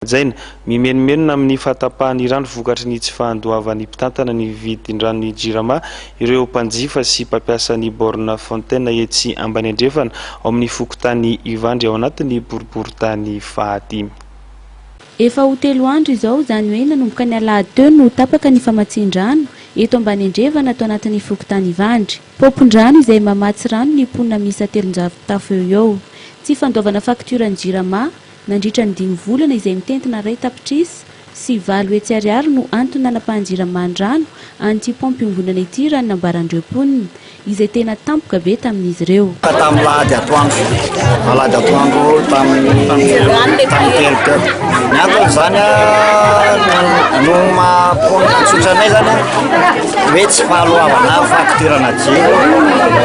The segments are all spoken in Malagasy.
Hajaina, mimenomenona amin'ny fahatapahan'ny rano vokatry ny tsy fahandoavan'ny mpitantana ny vidin-dranon'ny Jirama ireo mpanjifa sy mpampiasa ny borne fontaine etsy ambany andrefana ao amin'ny fokontany Ivandry ao anatin'ny boriborintany fahadimy. Efa ho telo andro izao, izany hoe nanomboka ny alahady teo no tapaka ny famatsian-drano eto ambany andrefana ato anatin'ny fokontany Ivandry. Paompin-drano izay mamatsy rano ny mponina miisa telonjato tafo eo ho eo. Tsy fandoavana faktioran'ny Jirama. Nandritra ny dimy volana izay mitentina iray tapitrisa sy valo hetsy ariary no antony nanapahan'ny Jirama ny rano an'ity paompy iombonana ity raha ny nambaran'ireo mponina izay tena tampoka be tamin'izy ireo. Ka tamin'ny alahady atoandro, alahady atoandro tamin'ny tamin'ny telo teo. Ny anton'izany no maha-mponina tsotra anay izany hoe tsy fahaloavana fakitirana jiro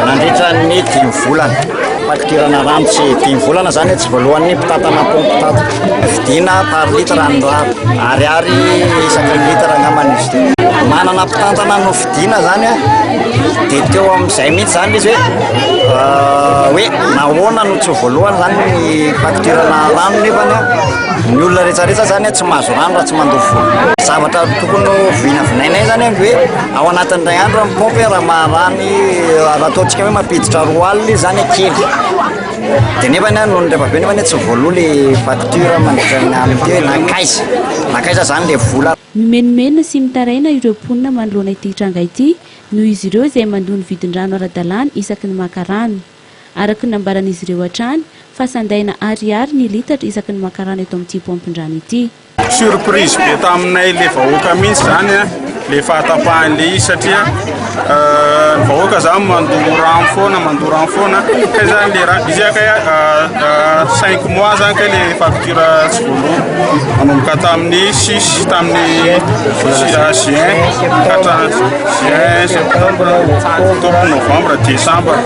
nandritra ny dimy volana. Fakitirana rano tsy dimy volana zany tsy voalohan'ny mpitantana pompe tato. Vidina par litre ny rano. Ariary isaky ny litre angambany izy ity. Manana mpitantana no vidina zany a. Dia teo amin'izay mihitsy zany izy hoe hoe nahoana no tsy voalohan zany ny fakitirana rano nefa ny olona rehetra rehetra zany tsy mahazo rano raha tsy mandoa vola. Zavatra tokony ho vinavinainay zany a ny hoe ao anatin'ny iray andro ny pompe raha maha rano. raha ataontsika hoe mampiditra roa alina izy zany kely dia nefa ny ahy noho ny ray aman-dreniko anie tsy voaloa le facture mandritra ny alina teo hoe nankaiza nankaiza zany le vola Mimenomenona sy mitaraina ireo mponina manoloana ity tranga ity noho izy ireo izay mandoa ny vidin-drano ara-dalàna isaky ny maka rano. Araka ny nambaran'izy ireo hatrany fa sandaina ariary ny litatra isaky ny maka rano eto amin'ity paompin-drano ity. Surprise be taminay le vahoaka mintsy zany a, le fahatapahany le izy satria ny vahoaka zany mandoa rano foana mandoa rano foana kay zany le rano izy kay cinq mois zany kay le facture tsy voaloa manomboka tamin'ny six tamin'ny juin ka hatramin'ny juin, septembre, octobre, novembre, decembre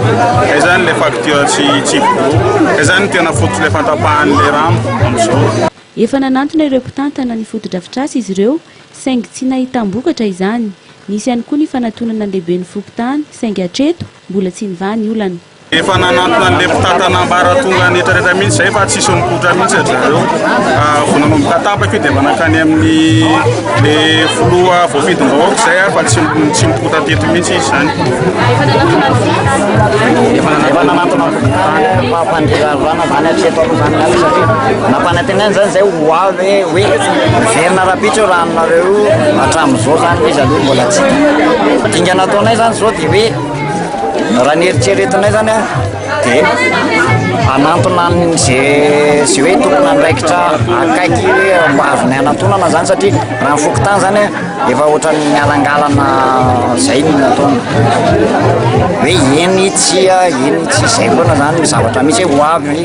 kay zany le facture tsy tsy voaloa kay zany tena fototra le fahatapahany le rano amizao. Efa nanantona ireo mpitantana ny fotodrafitrasa izy ireo saingy tsy nahitam-bokatra izany. Nisy ihany koa ny fanatonana lehiben'ny fokontany saingy hatreto mbola tsy nivaha ny olana. Efa nanantona an'ilay mpitantana ambaratonga an'etraretra mihitsy izay fa tsisy mipoitra mihitsy ry zareo. Vao nanomboka tapaka io dia efa nankany amin'ilay filoha voafidim-bahoaka izay ary fa tsy mipoitra teto mihitsy izy izany. Efa nanantona ny fokontany. Ranavany hatreto aloha izany miaraka satria nampanantenaina izany izay ho avy hoe hiverina rahampitso io ranonareo io hatramin'izao izany ilay izy aloha mbola tsy hita. Dingana ataonay izany izao dia hoe raha ny eritreretinay izany an dia hanantona an'izay izay hoe tompon'andraikitra akaiky mba azonay anatonana izany satria raha ny fokontany izany an Efa ohatran'ny mialangalana izay no nataony. Hoe eny tsia, eny tsia, izay foana izany ny zavatra misy hoe ho avy,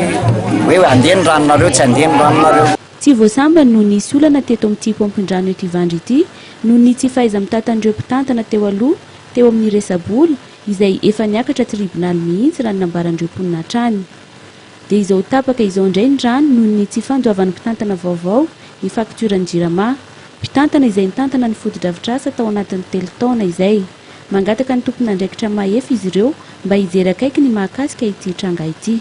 hoe handeha ny ranonareo, tsy handeha ny ranonareo. Tsy vao sambany no nisy olana teto amin'ity paompin-drano eto Ivandry ity noho ny tsy fahaiza-mitatan'ireo mpitantana teo aloha teo amin'ny resa-bola izay efa niakatra tribonaly mihitsy raha ny nambaran'ireo mponina hatrany. Dia izao tapaka izao indray ny rano noho ny tsy fandoavan'ny mpitantana vaovao ny faktioran'ny Jirama. Mpitantana izay nitantana ny fotodrafitrasa tao anatin'ny telo taona izay. Mangataka ny tompon'andraikitra mahefa izy ireo mba hijery akaiky ny mahakasika ity tranga ity.